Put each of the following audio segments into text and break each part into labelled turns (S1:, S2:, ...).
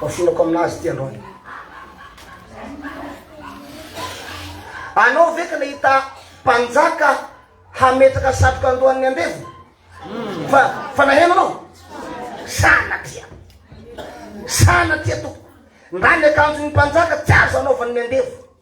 S1: Ohafinako aminazy ity androany. Anao ve ka nahita mpanjaka hametraka satroka andohan'ny andevo? Hmm. Fa fa naheno anao? Sanatria. Sanatria toko. Ndra ny akanjon'ny mpanjaka tsy azo anaovan'ny andevo.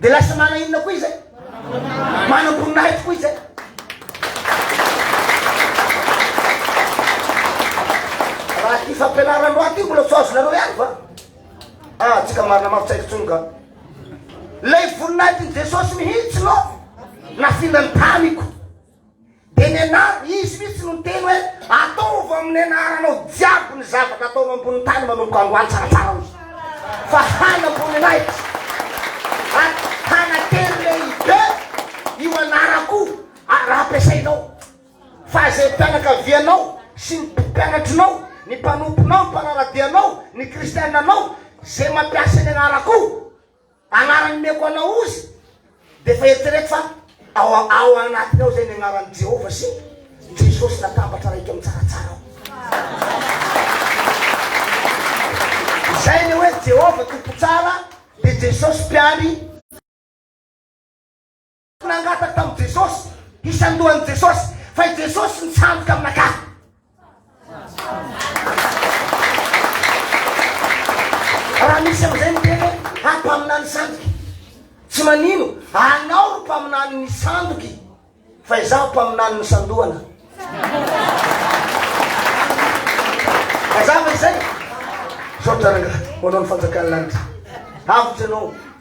S1: Dia lasa mana inona koa izay? Manam-boninahitra koa izay. Raha ity fampianarana loha ity mbola tsy azonareo ihany fa ah tsika marina mafy tsaiky tsony ka. Ilay voninahitr'i Jesosy mihitsy no nafindany tamiko. Dia nianarana, Izy mihitsy no niteny hoe, Ataovy amin'ny anaranao jiaby ny zavatra ataonao ambonin'ny tany manomboka androany tsaratsara hoy. Fa hanamboninahitra ary hanatery lehibe io anarako ary raha ampiasainao fa izay mpianakavianao sy ny mpianatrinao, ny mpanomponao, ny mpanara-dia anao, ny kristiananao izay mampiasa ny anarako. Anarany omeko anao ozy dia efa eritrereto fa ao ao anatiny ao zay ny anaran'i Jehovah sy Jesosy natambatra raha eto amin'ny tsaratsara ao. Izay ny hoe Jehovah Tompo Tsara dia Jesosy Mpiary Nangataka tamin'i Jesosy hisandohan'i Jesosy, fa i Jesosy nitsandoka amin'Akato. Raha misy amin'izay miteny hoe ah, mpaminany sandoka. Tsy manino, anao ry mpaminany ny sandoky, fa izaho mpaminany ny sandohana. Mazava izay? Misaotra ranga, ho anao ny fanjakan'ny lanitra. Avotra ianao.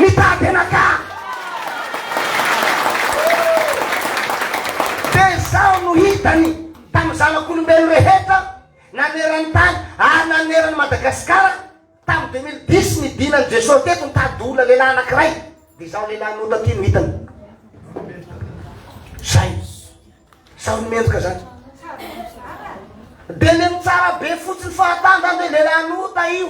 S1: Mitady anaka! Dia izao no hitany tamin'ny zanak'olombelona rehetra naneran'ny tany ary naneran'i Madagasikara tamin'ny deux mille dix ny dinan'i Jesosy teto nitady olona lehilahy anankiray dia izao lehilahy nota ity no hitany. Izay. Izao no mendrika izany. Dia le mitsara be fotsiny fahatany izany dia lehilahy nota io.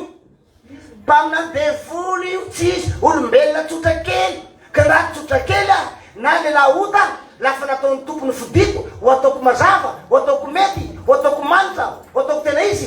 S1: Mpaminany devoly io tsy izy olombelona tsotra kely ka raha tsotra kely aho na lehilahy ota la fa nataon'ny Tompo ny fidiko ho ataoko mazava ho ataoko mety ho ataoko manitra ho ataoko tena izy